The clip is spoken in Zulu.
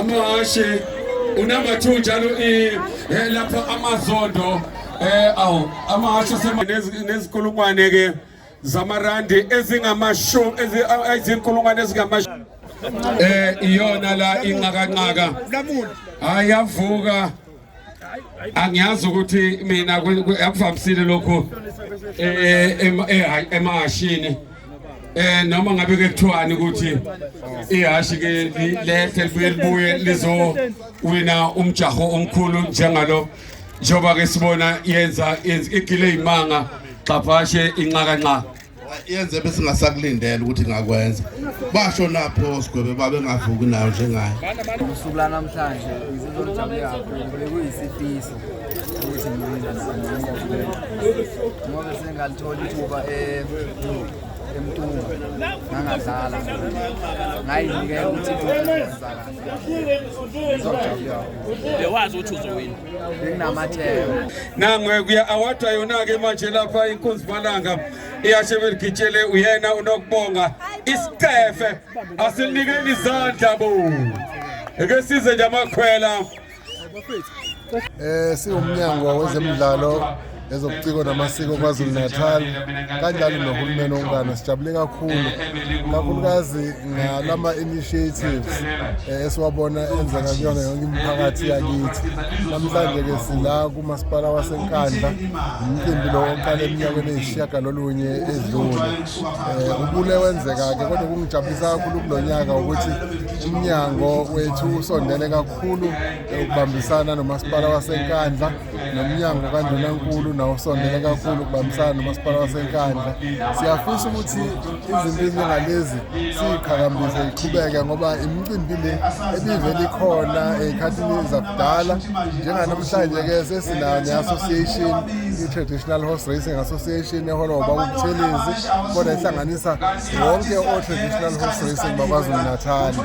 amahashe unumber 2 njalo eh, lapho amazondo eh awu amahashe nezikulungwane ke zamarandi ezingamashumi ezinkulungwane ezingamashumi eh iyona la inqakanqaka hayi yavuka angiyazi ukuthi mina akuvamisile lokhu eh, eh, eh, emahashini eh noma ngabe ke kuthiwani ukuthi ihashi ke lethe libuye libuye lizo wina umjaho omkhulu njengalo njengoba ke sibona yenza igile imanga xaphashe inxaka nxa yenze besingasakulindela ukuthi ngakwenza basho napho sigwebe babengavuki nayo njengayo usuku lanamhlanje izizonjabule kakhulu bekuyisifiso ukuthi ngoba sengalithola ithuba eh, emtunga ngangadlala ngayinikela ukuthi ngizojabula bewazi ukuthi uzowina benginamatheko nangwekuya awadwa yona-ke manje lapha inkunzi malanga iyashe beligitshele uyena unokubonga isicefe asilikeni izandla bo eke size nje amakhwela eh siwumnyango wezemidlalo ezobuciko namasiko KwaZulu-Natal kanjalo nohulumeni wonkana sijabule kakhulu kakhulukazi ngalama-initiatives eh, esiwabona enzeka kuyona yonke imiphakathi yakithi namhlanje-ke sila kumasipala wasenkandla umcimbi lo oqale eminyakeni eyisishiyagalolunye edlule um ubule wenzeka-ke kodwa kungijabulisa kakhulu kulo nyaka ukuthi umnyango wethu usondele kakhulu ukubambisana nomasipala wasenkandla nomnyango kandunankulu nawo usondele kakhulu ukubambisana nomasipala wasenkandla siyafisa ukuthi izimpinyo ngalezi siyiqhakambise iqhubeke ngoba imicimbi le ebivele ikhona ey'khathini zakudala njenganamhlanje-ke sesinayo ne-association i-traditional horse racing association ehola ngobaba ubuthelezi kodwa ihlanganisa wonke o-traditional horse racing bakwazulu natali